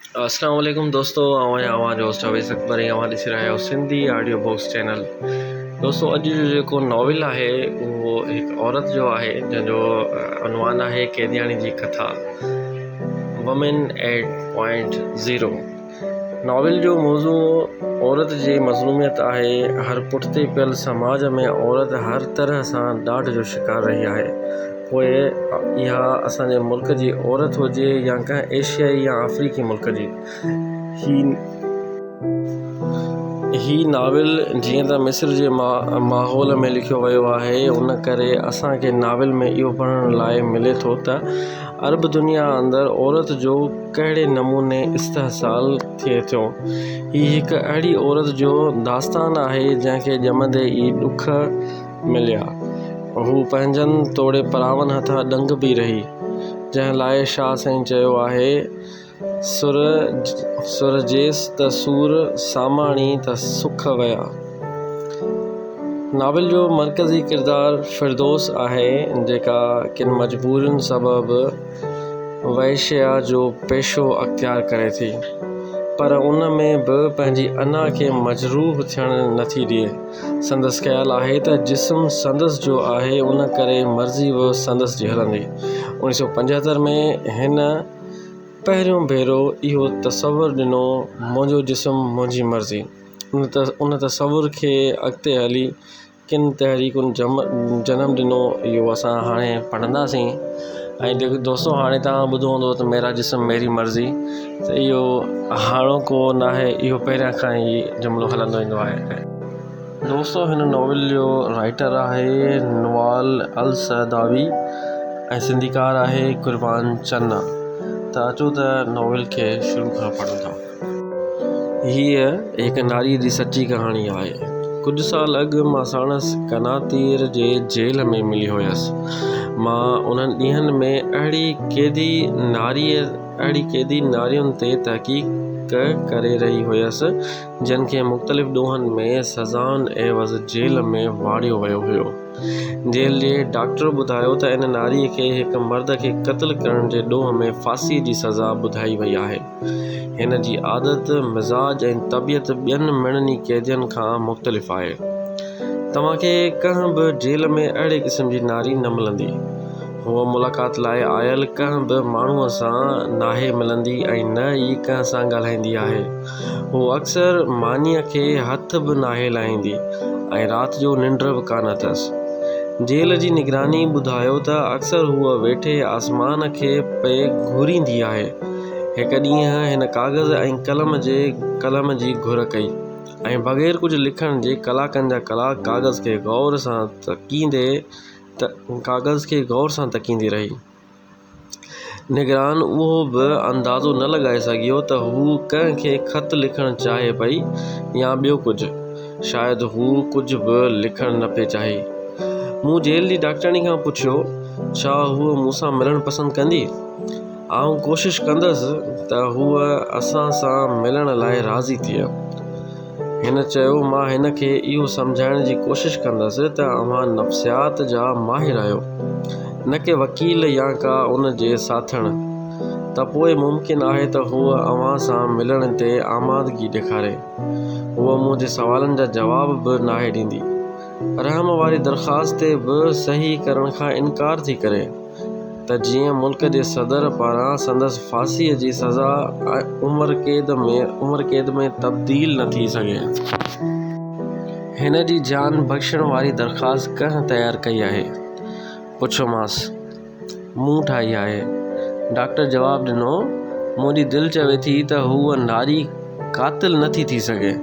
اسلام عليڪم دوستو آئون آهيان اوهان جو هوسٽ اويس اڪبر ۽ اوهان ڏسي رهيا آهيو سنڌي آڊيو بوڪس چينل دوستو اڄ جو جيڪو ناول آهي اهو هڪ عورت جو آهي جنهن جو عنوان آهي قيدياڻي جي ڪٿا woman at point zero novel جو موضوع عورت جي مظلوميت آهي هر پٺتي پيل سماج ۾ عورت هر طرح سان ڏاڍ جو شڪار رهي آهي پوء اها اسان جي ملڪ جي عورت هجي يا ڪنهن ايشيائي يا آفريڪي ملڪ جي. هي ناول جيئن ته مصر جي ماحول ۾ لکيو ويو آهي ان ڪري اسان کي ناول ۾ اهو پڙهڻ لاء ملي ٿو ته عرب دنيا اندر عورت جو ڪهڙي نموني استحصال ٿئي ٿو. هي هڪ اهڙي عورت جو داستان آهي جنهن کي ڄمندي ئي ڏک، مليا. هو پنهنجن توڙي پراون هٿان ڏنگ به رهي، جنهن لاء شاهه سائين چيو آهي، سر سرجيس ته سور ساماڻي ته سک ويا. ناول جو مرڪزي ڪردار فردوس آهي، جيڪا ڪن مجبورين سبب وئشيا جو پيشو اختيار ڪري ٿي، پر ان ۾ به پنهنجي انا کي مجروح ٿيڻ نٿي ڏئي. سندس خيال آهي ته جسم سندس جو آهي ان ڪري مرضي به سندس جي هلندي. اوڻيھ سؤ پنجهتر ۾ هن پهريون ڀيرو اهو تصور ڏنو منهنجو جسم منهنجي مرضي. ان تصور کي اڳتي هلي ڪن تحريڪن جنم ڏنو اهو اسان هاڻي پڙهنداسين ۽ دوستو هاڻي توهان ٻڌو هوندو ته ميرا جسم ميري مرضي. اهو هاڻوڪو ناهي، اهو پهريان کان ئي جملو هلندو ايندو آهي. دوستو هن ناول جو رائيٽر آهي نوال السعداوي ۽ سنڌيڪار آهي قربان چنا ته اچو ته ناول کي شروع کان پڙهون ٿا. هيء هڪ ناريء جي سچي ڪهاڻي آهي. ڪجهه سال اڳ مان ساڻس قناطير جي جيل ۾ ملي هيس. مان انهن ڏينهن ۾ اهڙي قيدي ناريء اهڙي قيدي نارين تي تحقيق ڪري رهي هيس، جن کي مختلف ڏوهن ۾ سزائن عيوض جيل ۾ واڙيو ويو هيو. جيل جي ڊاڪٽر ٻڌايو ته ان ناريء کي هڪ مرد کي قتل ڪرڻ جي ڏوهه ۾ ڦاسيء جي سزا ٻڌائي وئي آهي. هن جي عادت، مزاج ۽ طبيعت ٻين مڙني قيدين کان مختلف آهي. توهان کي ڪنهن به جيل ۾ اهڙي قسم جي ناري نه ملندي. هوء ملاقات لاء آيل ڪنهن به ماڻهوء سان ناهي ملندي ۽ نه ئي ڪنهن سان ڳالهائيندي آهي. هوء اڪثر مانيء کي هٿ به ناهي لائيندي ۽ رات جو ننڊ به ڪانه اٿس. جيل جي نگراني ٻڌايو ته اڪثر هوء ويٺي آسمان کي پئي گهوريندي آهي. هڪ ڏينهن هن ڪاغذ ۽ قلم جي قلم جي گهر ڪئي ۽ بغير ڪجهه لکڻ جي ڪلاڪن جا ڪلاڪ ڪاغذ کي غور سان تڪيندي ته ڪاغذ کي غور سان تڪيندي رهي. نگران اهو به اندازو نه لڳائي سگهيو ته هوء ڪنهن کي خط لکڻ چاهي پئي يا ٻيو ڪجهه. شايد هوء ڪجهه به لکڻ نه پئي چاهي. مون جيل جي ڊاڪٽرياڻي کان پڇيو، ڇا هوء مون سان ملڻ پسند ڪندي؟ آئون ڪوشش ڪندس ته هوء اسان سان ملڻ لاء راضي ٿئي. هن چيو، مان هن کي اهو سمجهائڻ جي ڪوشش ڪندس ته اوهان نفسيات جا ماهر آهيو، نه ڪي وڪيل يا ڪا ان جي ساٿڻ، ته پوء ممڪن آهي ته هوء اوهان سان ملڻ تي آمادگي ڏيکاري. هوء مون جي سوالن جا جواب به ناهي ڏيندي. رحم واري درخواست تي به صحيح ڪرڻ کان انڪار ٿي ڪري. ته جيئن ملڪ جي صدر پاران سندس ڦاسيء جي سزا عمر قيد ۾ عمر قيد ۾ تبديل نه ٿي سگهي. هن جي جان بخشڻ واري درخواست ڪنهن تيار ڪئي آهي؟ پڇيومانس. مون ٺاهي آهي. ڊاڪٽر جواب ڏنو، منهنجي دل چوي ٿي ته هوء ناري قاتل نه ٿي ٿي سگهي.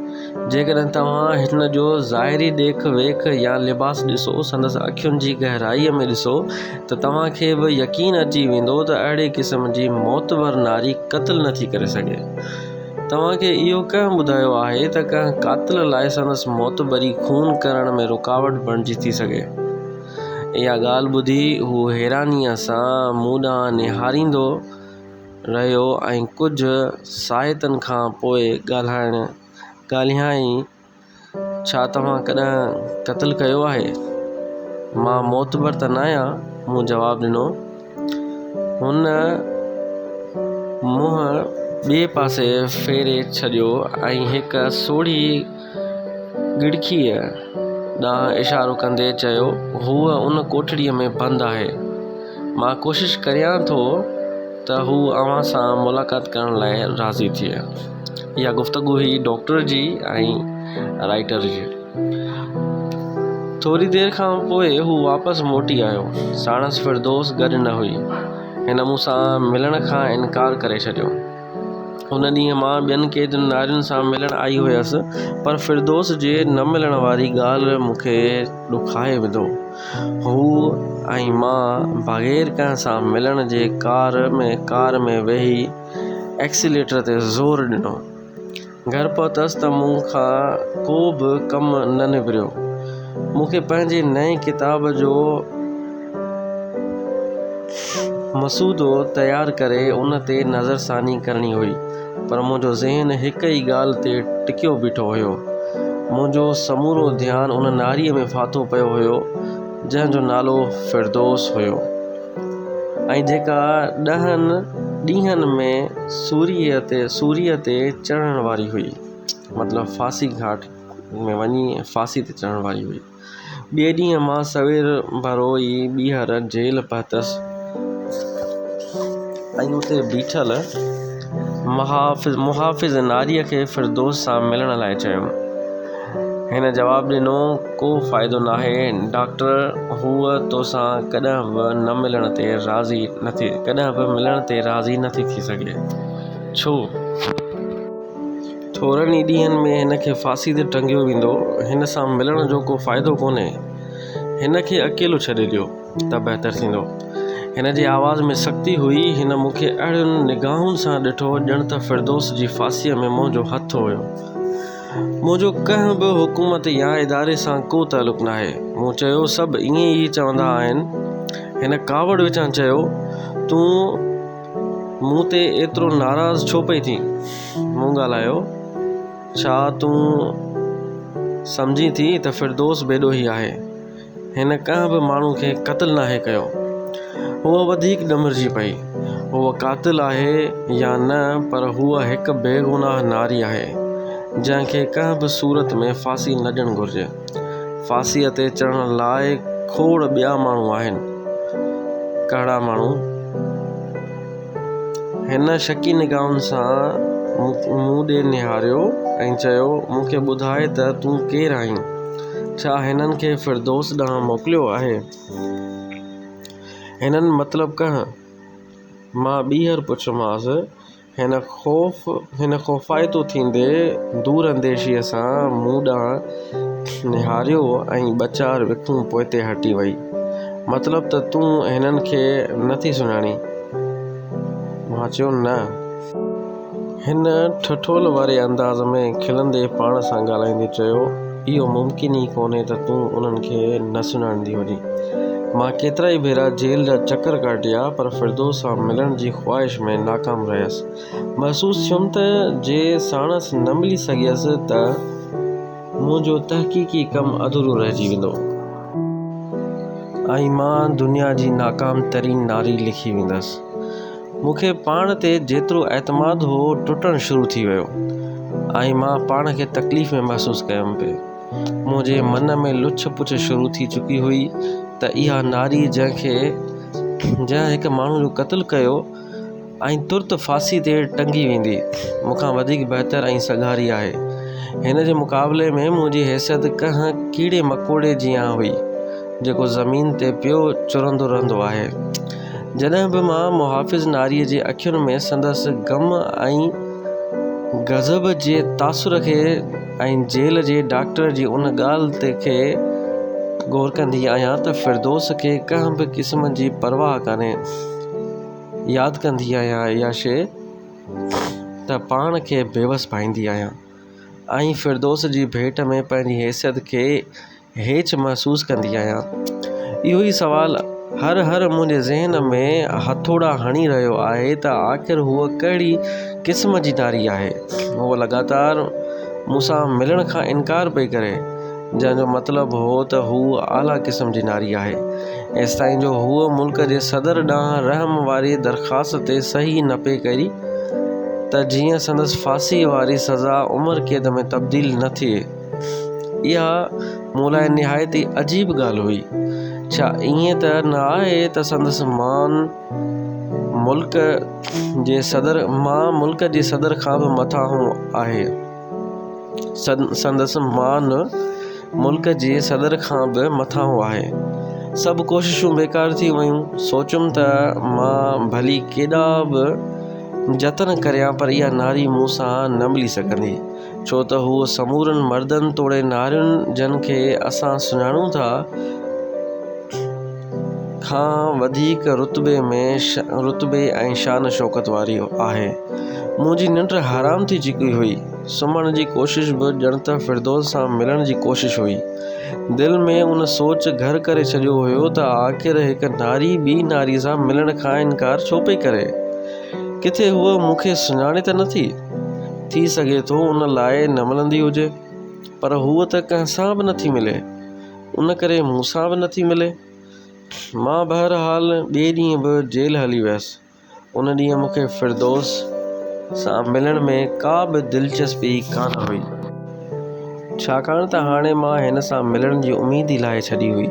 جيڪڏهن توهان هن جو ظاهري ڏيک ويک يا لباس ڏسو، سندس اکين جي گهرائيء ۾ ڏسو ته توهان کي به يقين اچي ويندو ته اهڙي قسم جي معتبر ناري قتل نه ٿي ڪري سگهي. توهان کي اهو ڪنهن ٻڌايو آهي ته ڪنهن قاتل لاء سندس معتبري خون ڪرڻ ۾ رڪاوٽ بڻجي ٿي سگهي؟ اها ڳالهه ٻڌي هو حيرانيء سان مون ڏانهن نهاريندو، رهيو ۽ ڪجهه ساهتن کان پوء ڳالهائڻ ڳالهيائين، ڇا توهان ڪڏهن قتل ڪيو آهي؟ مان معتبر ته ناهيان، مون جواب ڏنو. هن منهن ٻئي پاسي ڦيري ڇڏيو ۽ هڪ سوڙهي ڳڙکيء ڏانهن اشارو ڪندي چيو، هوء ان ڪوٺڙيء ۾ بند آهي. مان ڪوشش ڪريان ٿو ته هوء اوهان سان ملاقات ڪرڻ لاء راضي ٿئي. اها گفتگو هئي ڊاڪٽر جي ۽ رائيٽر جي. ٿوري دير کان پوء هو واپس موٽي آيو. ساڻس فردوس گڏ نه هئي. هن مون سان ملڻ کان انڪار ڪري ڇڏيو. ان ڏينهن مان ٻين ڪيترين نارين سان ملڻ آئي هيس پر فردوس جي نه ملڻ واري ڳالهه مون کي ڏکائي وڌو. هو ۽ مان بغير ڪنهن سان ملڻ جي ڪار ۾ ڪار ۾ ويهي ايڪسيليٽر تي زور ڏنو. گهر پهتس ته مون کان ڪو به ڪم نه نبريو. مون کي پنهنجي نئين ڪتاب جو مسودو تيار ڪري ان تي نظرثاني ڪرڻي هئي، پر منهنجو ذهن هڪ ئي ڳالهه تي ٽڪيو بيٺو هيو. منهنجو سمورو ڌيان ان ناريء ۾ ڦاٿو پيو هيو، جنهن جو نالو فردوس هيو. ۽ جيڪا ڏهن ڏينهن ۾ سوريء تي سوريء تي چڙهڻ واري هئي مطلب ڦاسي گهاٽ ۾ وڃي ڦاسي تي چڙهڻ واري هئي ٻئي ڏينهن مان سوير ڀرو ئي ٻيهر جيل پهتس ۽ اتي بيٺل محافظ ناريء کي فردوس سان ملڻ لاء چيم. هن جواب ڏنو، ڪو فائدو ناهي ڊاڪٽر، هوء توسان ڪڏهن به ملڻ تي راضي نه ٿي سگهي. ڇو؟ ٿورن ئي ڏينهن ۾ هن کي ڦاسي تي ٽنگيو ويندو. هن سان ملڻ جو ڪو فائدو ڪونهي. هن کي اڪيلو ڇڏي ڏيو. ته بهتر ٿيندو. هن جي آواز ۾ سختي هئي. هن مون کي اهڙين نگاهن سان ڏٺو ڄڻ ته فردوس جي ڦاسيء ۾ منهنجو هٿ هيو. منهنجو ڪنهن به حڪومت يا اداري سان ڪو تعلق ناهي. مون چيو، سڀ ائين ئي چوندا آهن. هن ڪاوڙ وچان چيو، تون مون تي ايترو ناراض ڇو پئي ٿين؟ مون ڳالهايو، ڇا تون سمجهين ٿي ته فردوس بيڏوهي آهي؟ هن ڪنهن به ماڻهو کي قتل ناهي ڪيو. هوء وڌيڪ ڏمرجي پئي. هوء قاتل آهي يا نه پر هوء هڪ بيگناهه ناري آهي، جنهن کي ڪنهن به صورت ۾ ڦاسي نه ڏيڻ گهرجي. ڦاسيء تي چڙهڻ لاء کوڙ ٻيا ماڻهو آهن. ڪهڙا ماڻهو؟ هن شڪي نگاهن سان مون ڏي نهاريو ۽ چيو، مون کي ٻڌاء ته تون ڪير آهين؟ ڇا هنن کي فردوس ڏانهن موڪليو آهي؟ هنن مطلب ڪنهن؟ مان ٻيهر پڇيومانس. هن خوف هن خوفائتو ٿيندي دور انديشيء سان مون ڏانهن نهاريو ۽ ٻه چار وکون پوئتي هٽي وئي. مطلب ته تون هنن کي نه ٿي سڃاڻين؟ مان چيو نه. هن ٺٺول واري انداز ۾ کلندي پاڻ سان ڳالهائيندي چيو، اهو ممڪن ئي ڪونهي ته تون انهن کي نه سڃاڻندي هجين. مان ڪيترائي ڀيرا جيل جا چڪر ڪاٽيا پر فردوس سان ملڻ جي خواهش ۾ ناڪام رهيس. محسوس ٿيم ته جي ساڻس نه ملي سگهيس ته منهنجو تحقيقي ڪم اڌورو رهجي ويندو. ۽ مان دنيا جي ناڪام ترين ناري لکي ويندس. مون کي پاڻ تي جيترو اعتماد هو ٽٽڻ شروع ٿي ويو ۽ مان پاڻ کي تڪليف ۾ محسوس ڪيم پئي. منهنجي من ۾ لڇ پڇ شروع ٿي چڪي هئي ته اها ناري جنهن کي جنهن هڪ ماڻهو جو قتل ڪيو ۽ ترت ڦاسي تي ٽنگي ويندي مون کان وڌيڪ بهتر ۽ سگهاري آهي هن جي مقابلي ۾ منهنجي حيثيت ڪنهن ڪيڙي مڪوڙي جيان هئي جيڪو زمين تي پيو چرندو رهندو آهي. جڏهن به مان محافظ ناريء جي اکين ۾ سندس غم ۽ غضب جي تاثر کي ۽ جيل جي ڊاڪٽر جي ان ڳالهه تي کي غور ڪندي آهيان ته فردوس کي ڪنهن به قسم جي پرواهه ڪانهي. ياد ڪندي آهيان اها شيء ته پاڻ کي بيوس ڀائيندي آهيان ۽ فردوس جي ڀيٽ ۾ پنهنجي حيثيت کي هيچ محسوس ڪندي آهيان؟ اهو ئي سوال هر هر منهنجي ذهن ۾ هٿوڙا هڻي رهيو آهي ته آخر هوء ڪهڙي قسم جي ناري آهي؟ هوء لڳاتار مون سان ملڻ کان انڪار پئي ڪري، جنهن جو مطلب هو ته هوء اعليٰ قسم جي ناري آهي. ايستائين جو هوء ملڪ جي صدر ڏانهن رحم واري درخواست تي صحيح نه پئي ڪري ته جيئن سندس ڦاسيء واري سزا عمر قيد ۾ تبديل نه ٿئي. اها مون لاء نهايت ئي عجيب ڳالهه هئي. ڇا ائين ته نه آهي ته سندس مان ملڪ جي صدر کان به مٿانهون آهي؟ سڀ ڪوششون بيڪار ٿي ويون. سوچيم ته مان ڀلي ڪيڏا به جتن ڪريان پر اها ناري مون سان نه ملي سگهندي. ڇو ته هو سمورن مردن توڙي نارين جن کي اسان سڃاڻون ٿا کان وڌيڪ رتبي ۽ شان شوڪت واري آهي. منهنجي ننڊ حرام ٿي چڪي هئي. سمهڻ جي ڪوشش به ڄڻ ته فردوس سان ملڻ جي ڪوشش هئي. دل ۾ ان سوچ گهر ڪري ڇڏيو هيو ته آخر هڪ ناري ٻي ناري سان ملڻ کان انڪار ڇو پئي ڪري. ڪٿي هوء مون کي سڃاڻي ته نٿي. ٿي سگهي ٿو ان لاء نه ملندي هجي، پر هوء ته ڪنهن سان به نٿي ملي، ان ڪري مون سان به نٿي ملي. مان بهرحال ٻئي ڏينهن به جيل هلي ويس. ان ڏينهن مون کي فردوس سان ملڻ ۾ ڪا به دلچسپي ڪانه هئي. ڇاڪاڻ ته هاڻي مان هن سان ملڻ جي اميد ئي لاهي ڇڏي هئي.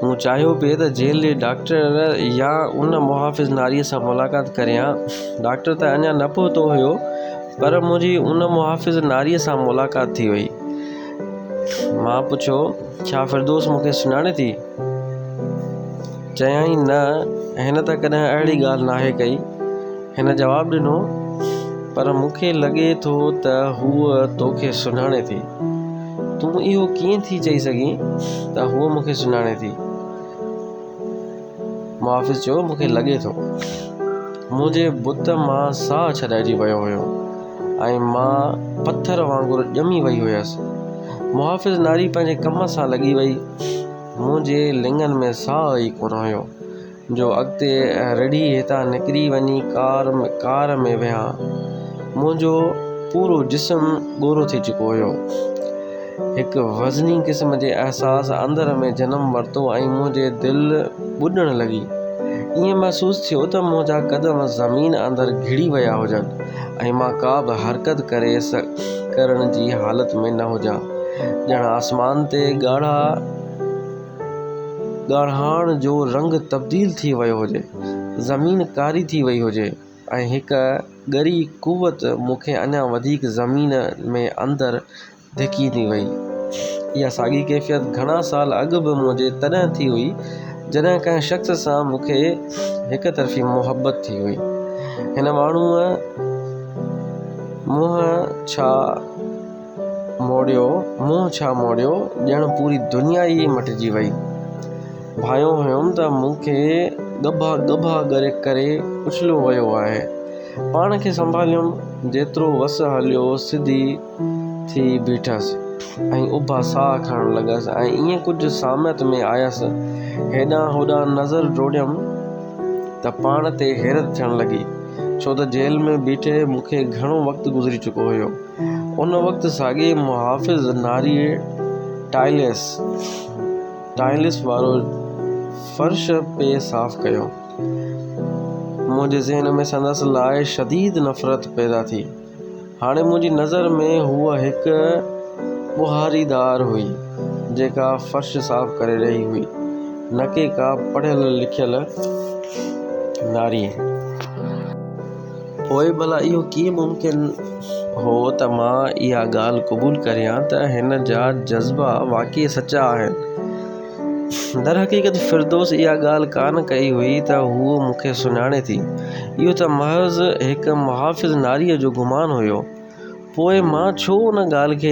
مون چاهيو پئي ته جيل جي ڊاڪٽر يا ان محافظ ناريء سان ملاقات ڪريان. ڊاڪٽر ته اڃا نه پهتو هيو، پر منهنجي ان محافظ ناريء سان ملاقات ٿي وئي. مان پڇيو، ڇا فردوس مون کي سڃاڻي ٿي؟ چيائين، نه، هن ته ڪڏهن اهڙي ڳالهه ناهي ڪئي. هن جواب ڏنو، پر مون کي لڳي ٿو ته هوء توکي سڃاڻي ٿي. تون اهو ڪيئن ٿي چئي سگهين ته هوء مون کي سڃاڻي ٿي؟ محافظ چيو، مون کي لڳي ٿو. منهنجي بت مان ساهه ڇڏائجي ويو هيو ۽ مان پٿر وانگر ڄمي وئي هيس. محافظ ناري پنهنجي ڪم سان لڳي وئي. منهنجي لڱن ۾ ساهه ئي ڪونه هيو. جو اڳتي رڙهي هتان نڪري وڃي ڪار ڪار ۾ ويها منهنجو پورو جسم ڳورو ٿي چڪو هيو هڪ وزني قسم جي احساس اندر ۾ جنم ورتو ۽ منهنجي دل ٻڏڻ لڳي ائين محسوس ٿيو ته منهنجا قدم زمين اندر گهڙي ويا هجن ۽ مان ڪا به حرڪت ڪري ڪرڻ جي حالت ۾ نه هجان ڄڻ آسمان تي ڳاڙها ڳاڙهاڻ جو رنگ تبديل ٿي ويو هجي، زمين ڪاري ٿي وئي هجي ۽ هڪ ڳري قوت مون کي اڃا وڌيڪ زمين ۾ اندر ڌڪيندي وئي. اها ساڳي ڪيفيت گهڻا سال اڳ به منهنجي تڏهن ٿي هئي، جڏهن ڪنهن شخص سان مون کي هڪ طرفي محبت ٿي هئي. هن ماڻهوء منهن ڇا. موڙيو، منهن ڇا موڙيو، ڄڻ پوري دنيا ئي مٽجي وئي. ڀانئيو هيم ته مون کي ڳڀا ڳڀا ڪري اڇليو ويو آهي. پاڻ کي سنڀاليم، جيترو وس هليو، سڌي ٿي بيٺس ۽ اڀا ساهه کڻڻ لڳس ۽ ائين ڪجهه ساميت ۾ آيس. هيڏانهن هوڏانهن نظر ڊوڙيم ته پاڻ تي حيرت ٿيڻ لڳي، ڇو ته جيل ۾ بيٺي مون کي گهڻو وقت گذري چڪو هيو. ان وقت ساڳئي محافظ ناري ٽائلس Tiles وارو فرش پئي صاف ڪيو. منهنجي ذهن ۾ سندس لاء شديد نفرت پيدا ٿي. هاڻي منهنجي نظر ۾ هوء هڪ ٻهاريدار هئي، جيڪا فرش صاف ڪري رهي هئي، نه ڪي ڪا پڙهيل لکيل ناري. پوء ڀلا اهو ڪيئن ممڪن هو ته مان اها ڳالهه قبول ڪريان ته هن جا جذبا واقعي سچا آهن؟ درحقيقت فردوس اها ڳالهه ڪانه ڪئي هئي ته هوء مون کي سڃاڻي ٿي. اهو ته محض هڪ محافظ ناريء جو گمان هيو. پوء مان ڇو ان ڳالهه کي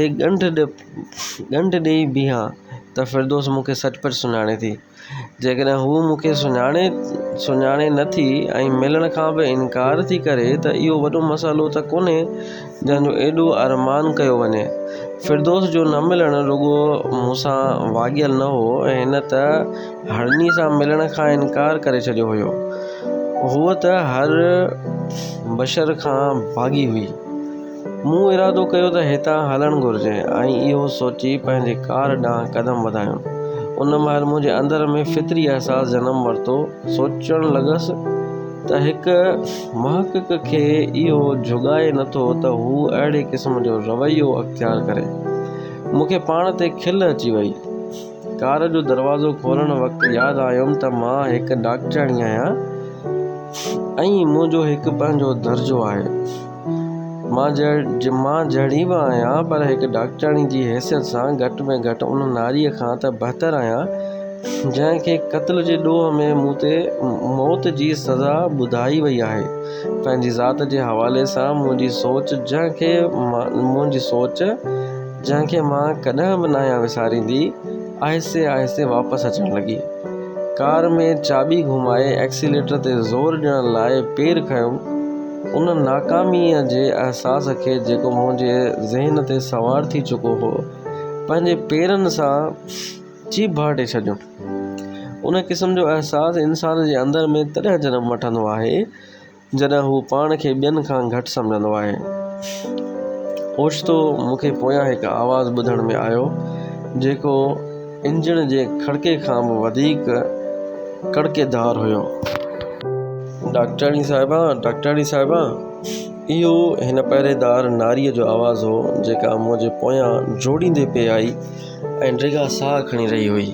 ڳنڍ ڏئي بيهان ته فردوس مون کي سچ پچ سڃاڻي ٿي. جيڪڏهن هوء مون کي سڃاڻي سڃاڻي نه ٿي ۽ ملڻ کان به انڪار ٿي ڪري ته اهو وڏو مسئلو ته ڪونهي جنهن جو ايڏو ارمان ڪيو وڃي. فردوس جو نه ملڻ رڳو مون سان واڳيل نه هو، هن ته هرني سان ملڻ کان انڪار ڪري ڇڏيو هيو. هوء ته هر بشر کان ڀاڳي هئي. مون ارادو ڪيو ته هتان هلڻ گهرجي ۽ اهو سوچي پنهنجي ڪار ڏانهن قدم وڌايم. ان مهل منهنجي اندر ۾ فطري احساس جنم ورتو، سوچڻ لڳس ته هڪ محقق کي اهو جهڳائي نٿو ته هو اهڙي قسم جو رويو اختيار ڪري. مون کي پاڻ تي کل اچي وئي. ڪار جو دروازو کولڻ وقت ياد آيم ته مان هڪ ڊاڪٽرياڻي آهيان ۽ منهنجو هڪ پنهنجو درجو آهي. مان جھڙي به آهيان پر هڪ ڊاڪٽرياڻي جي حيثيت سان گهٽ ۾ گهٽ ان ناريء کان ته بهتر آهيان جنهن کي قتل جي ڏوهه ۾ مون تي موت جي سزا ٻڌائي وئي آهي پنهنجي ذات جي حوالي سان منهنجي سوچ جنهن کي مان ڪڏهن به ناهيان وساريندي آهستي آهستي واپس اچڻ لڳي ڪار ۾ چاٻي گهمائي ايڪسيليٽر تي زور ڏيڻ لاء پير کنيو ان ناڪاميء جي احساس کي جيڪو منهنجي ذهن تي سوار ٿي چڪو هو، پنهنجي پيرن سان چيڀ ڀاٽي ڇڏيو. ان قسم جو احساس انسان جي اندر ۾ تڏهن جنم وٺندو آهي، جڏهن هو پاڻ کي ٻين کان گهٽ سمجهندو آهي. اوچتو مون کي پويان هڪ آواز ٻڌڻ ۾ آيو، جيڪو. انجڻ جي کڙڪي کان به وڌيڪ ڪڙڪيدار هيو. ڊاڪٽرياڻي صاحبه! ڊاڪٽرياڻي صاحبه! اهو هن پهريدار ناريء جو آواز هو، جيڪا مون جي پويان جوڙيندي پئي آئي ۽ ڊگها ساهه کڻي رهي هئي.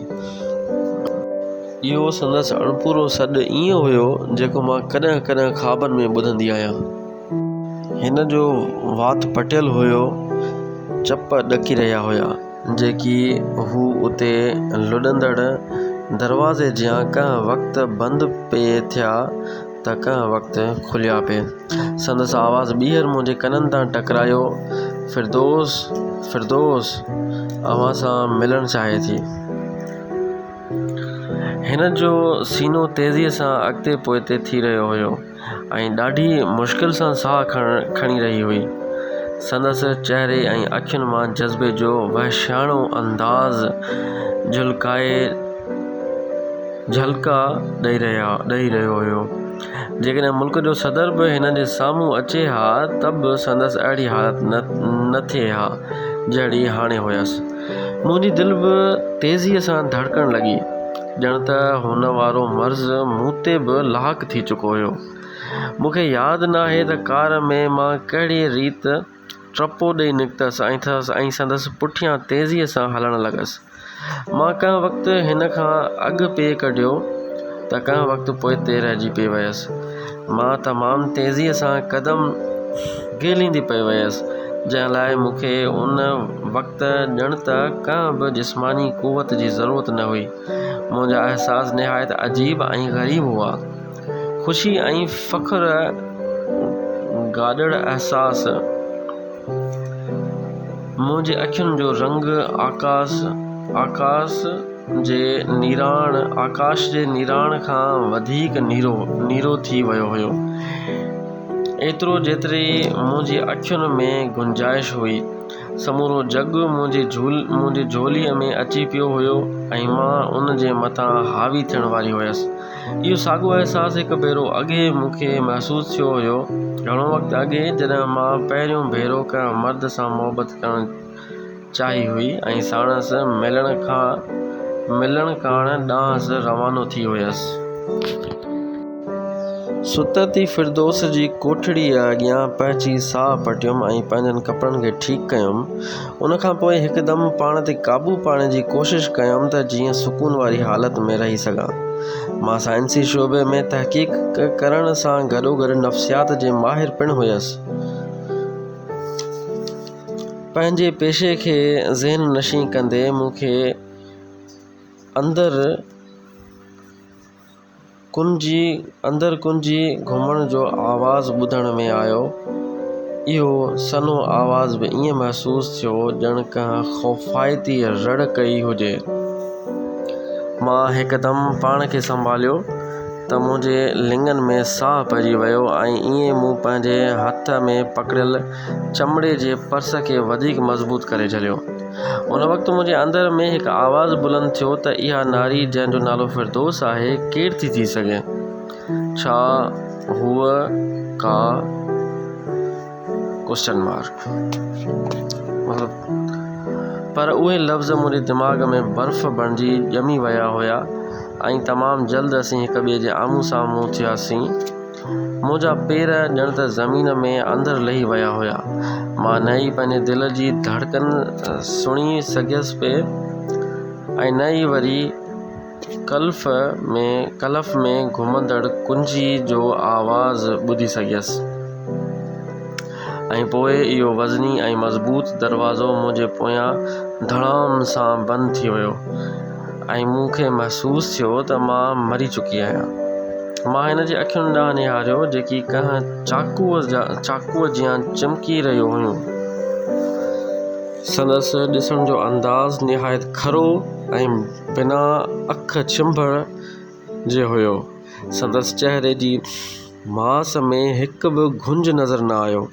اهو سندس اڻپورو سڏ ائين هيو، جيڪو مان ڪڏهن ڪڏهن خوابن ۾ ٻڌندي آهيان. هن جو وات پٽيل هيو، چپ ڏڪي رهيا هيا. جيڪي هو اتي لڏندڙ دروازي جيان ڪنهن وقت بند پئي ٿيا ته ڪنهن وقت کليا پئي. سندس آواز ٻيهر منهنجي ڪنن تان ٽڪرايو، فردوس! فردوس اوهان سان ملڻ چاهي ٿي. هن جو سينو تيزيء سان اڳتي پوئتي ٿي رهيو هيو. ۽ ڏاڍي مشڪل سان ساهه کڻي رهي هئي سندس چهري ۽ اکين مان جذبي جو وحشياڻو انداز جهلڪائي جهلڪا ڏئي رهيو هيو جيڪڏهن ملڪ جو صدر به هن جي سامهون اچي ها ته به سندس اهڙي حالت نه ٿئي ها جهڙي هاڻي هيس منهنجي دل به تيزي سان ڌڙڪڻ لڳي ڄڻ ته هن وارو مرض مون تي به لاحق ٿي چڪو هيو. مون کي ياد ناهي ته ڪار ۾ مان ڪهڙيء ريت ٽپو ڏئي نڪتس ۽ سندس پٺيان تيزيء سان هلڻ لڳس. مان ڪنهن وقت هن کان اڳ پئي ڪڍيو ته ڪنهن وقت پوئتي رهجي پئي ويس. مان تمام تيزيء سان قدم گهليندي پئي ويس، جنهن لاء مون کي ان وقت ڄڻ ته ڪنهن به جسماني قوت جي ضرورت نه هئي. منهنجا احساس نهايت عجيب ۽ غريب هئا. خوشي ۽ فخر گڏڙ احساس منهنجي اکين جو رنگ آڪاس جي نيراڻ آڪاش جي نيراڻ کان وڌيڪ نيرو نيرو ٿي ويو هيو ايترو جيتري منهنجي اکين ۾ گنجائش هئي سمورو جڳ منهنجي جهول منهنجي جهولي ۾ اچي پيو هيو ۽ مان ان جي مٿان حاوي ٿيڻ واري هيس اهو ساڳو احساس هڪ ڀيرو اڳي مون کي محسوس ٿيو هيو گهڻو وقت اڳي جڏهن مان پهريون ڀيرو ڪنهن مرد سان محبت ڪرڻ چاهي هئي ۽ ساڻس ملڻ کان ملڻ ڪاڻ ڏانهس روانو ٿي هيس. سترتي فردوس جي ڪوٺڙيء اڳيان پهچي ساهه پٽيم ۽ پنهنجن ڪپڙن کي ٺيڪ ڪيم. ان کان پوء هڪدم پاڻ تي قابو پاڻي جي ڪوشش ڪيم ته جيئن سڪون واري حالت ۾ رهي سگهان. مان سائنسي شعبي ۾ تحقيق ڪرڻ سان گڏوگڏ نفسيات جي ماهر پڻ هيس. پنهنجي پيشي کي ذهن نشين ڪندي مون کي اندر ڪنجي گهمڻ جو آواز ٻڌڻ ۾ آيو اهو سنهو آواز به ائين محسوس ٿيو ڄڻ ڪنهن خوفائتي رڙ ڪئي هجي مان هڪدم پاڻ کي سنڀاليو ته منهنجي لڱن ۾ ساهه پئجي ويو ۽ ائين مون پنهنجي هٿ ۾ پڪڙيل چمڙي جي پرس کي وڌيڪ مضبوط ڪري جهليو. ان وقت منهنجي اندر ۾ هڪ آواز بلند ٿيو ته اها ناري جنهن جو نالو فردوس آهي ڪير ٿي ٿي سگهي؟ ڇا هوء ڪا Question Mark پر اهي لفظ منهنجي دماغ ۾ برف بڻجي ڄمي ويا هيا ۽ تمام جلد اسين هڪ ٻئي جي آمهون سامهون ٿياسين منهنجا پير ڄڻ ته زمين ۾ اندر لهي ويا هيا. مان نه ئي پنهنجي دل جي ڌڙڪن سڻي سگهيس پئي ۽ نه ئي وري ڪلف ۾ ڪلف ۾ گهمندڙ ڪنجي جو آواز ٻڌي سگهيس ۽ پوء اهو وزني ۽ مضبوط دروازو منهنجي پويان ڌڙام سان بند ٿي ويو. ۽ مون کي محسوس ٿيو ته مان مري چڪي آهيان. مان هن جي اکين ڏانهن نهاريو جيڪي ڪنهن چاقوء جا چاقوء جيان چمڪي رهيون هيون. سندس ڏسڻ جو انداز نهايت کرو ۽ بنا اک ڇنڀڻ جي هيو. سندس چهري جي ماس ۾ هڪ به گهنج نظر نه آيو.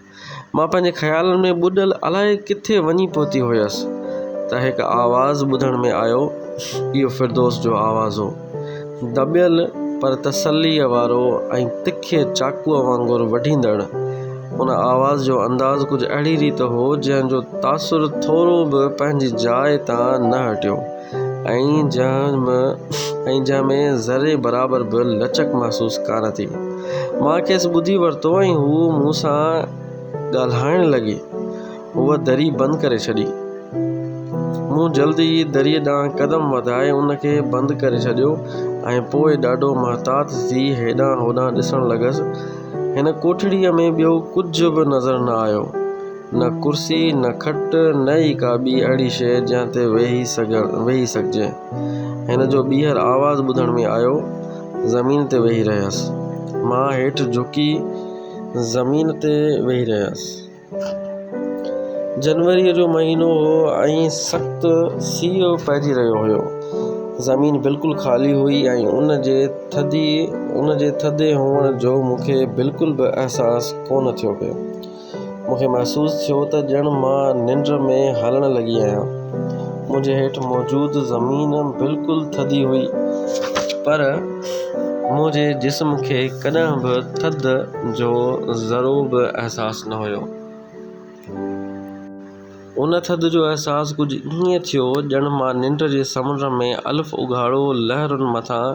مان پنهنجي خيالن ۾ ٻڏل الائي ڪٿي وڃي پهتي هيس ته هڪ آواز ٻڌڻ ۾ آيو اهو فردوس جو آواز هو دٻيل پر تسليء وارو ۽ تکي چاقوء وانگر وڍيندڙ ان آواز جو انداز ڪجهه اهڙي ريت هو جنهن جو تاثر ٿورو به پنهنجي جاء تان نه هٽيو ۽ جنهن ۾ ذري برابر به لچڪ محسوس ڪانه ٿي. مان کيس ٻڌي ورتو ۽ هوء مون سان ڳالهائڻ لڳي. هوء دري بند ڪري ڇڏي. مون جلد ئي دريء ڏانهن قدم وڌائي ان کي بند ڪري ڇڏيو ۽ پوء ڏاڍو محتاط ٿي هيڏانهن هوڏانهن ڏسڻ لڳس. هن ڪوٺڙيء ۾ ٻيو ڪجهه به نظر نه آيو. نه ڪرسي، نه کٽ، نه ئي ڪا ٻي اهڙي شيء جنهن تي ويهي سگهڻ ويهي سگهجي. هن جو ٻيهر آواز ٻڌڻ ۾ آيو، زمين تي ويهي رهيس. مان هيٺ جهڪي زمين تي ويهي رهيس. جنوريء جو مهينو هو ۽ سخت سيء پئجي رهيو هيو. زمين بلڪل خالي هئي ۽ ان جي ٿڌي ان جي ٿڌي هئڻ جو مون کي بلڪل به احساس ڪونه ٿيو پيو. مون کي محسوس ٿيو ته ڄڻ مان ننڊ ۾ هلڻ لڳي آهيان. منهنجي هيٺ موجود زمين بلڪل ٿڌي هئي پر منهنجي جسم کي ڪڏهن به ٿڌ جو ذرو به احساس نه هيو. ان ٿڌ جو احساس ڪجهه ائين ٿيو ڄڻ مان ننڊ جي سمنڊ ۾ الف اگهاڙو لهرن مٿان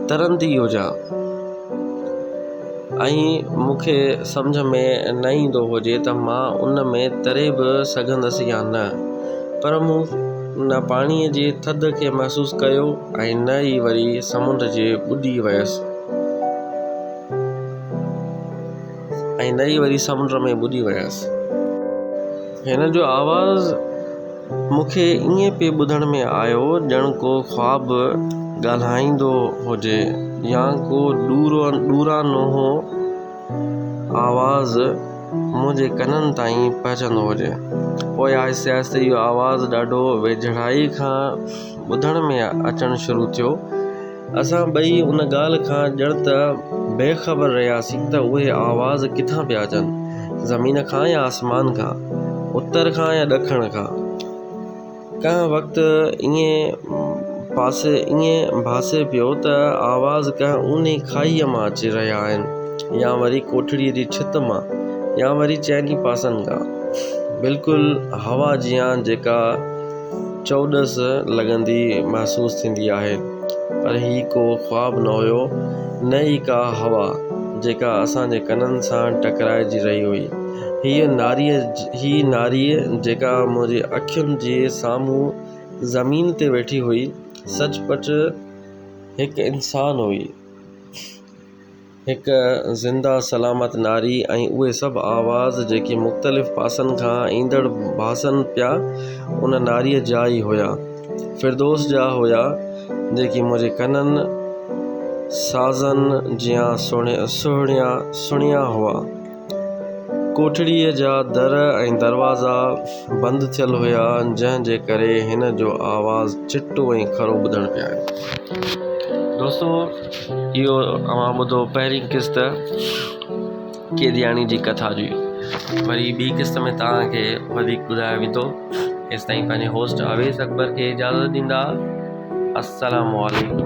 ترندي هجان ۽ مون کي سمجهه ۾ نه ايندو هجي ته مان ان ۾ تري به سگهندس يا نه پر مون نه پاڻي جي ٿڌ کي محسوس ڪيو ۽ نه ئي وري سمنڊ جي ٻڏي ويس ۽ نئي وري سمنڊ ۾ ٻڏي ويس. هن جو آواز مون کي ائين پئي ٻڌڻ ۾ آيو ڄڻ ڪو خواب ڳالهائيندو هجي يا ڪو ڏورانهون آواز منهنجي ڪنن تائين پهچندو هجي. پوء آهستي آهستي اهو آواز ڏاڍو ويجهڙائي کان ٻڌڻ ۾ اچڻ شروع ٿيو. اسان ٻئي ان ڳالهه کان ڄڻ ته بي خبر رهياسين ته اهي آواز ڪٿان پيا اچن، زمين کان يا آسمان کان، اتر کان يا ڏکڻ کان. ڪنهن وقت ائين پاسي ائين ڀاسي پيو ته آواز ڪنهن اونهي کاهيء مان اچي رهيا آهن يا وري ڪوٺڙيء جي ڇت مان يا وري چئني پاسن کان. بلڪل هوا جيان جيڪا چؤڏس لڳندي محسوس ٿيندي آهي، پر هي ڪو خواب نه هيو، نه ئي ڪا هوا، جيڪا اسان جي ڪنن سان ٽڪرائجي رهي هئي. هيء ناريء، هيء ناريء جيڪا منهنجي اکين جي سامهون زمين تي ويٺي هئي، سچ پچ هڪ انسان هئي. هڪ زنده سلامت ناري ۽ اهي سڀ آواز جيڪي مختلف پاسن کان ايندڙ ڀاسن پيا ان ناري جا ئي هيا فردوس جا هيا جيڪي منهنجي ڪنن سازن جيان سهڻيا سڻيا هئا ڪوٺڙيء جا در ۽ دروازا بند ٿيل هيا، جنهن جي ڪري هن جو آواز چٽو ۽ کرو ٻڌڻ پئي آيو. دوستو اهو اوهان ٻڌو پهرين قسط قيدياڻي جي ڪٿا جي وري ٻي قسط ۾ توهان کي وڌيڪ ٻڌايو ويندو ايستائين پنهنجي هوسٽ اويس اڪبر کي اجازت ڏيندا السلام عليڪم.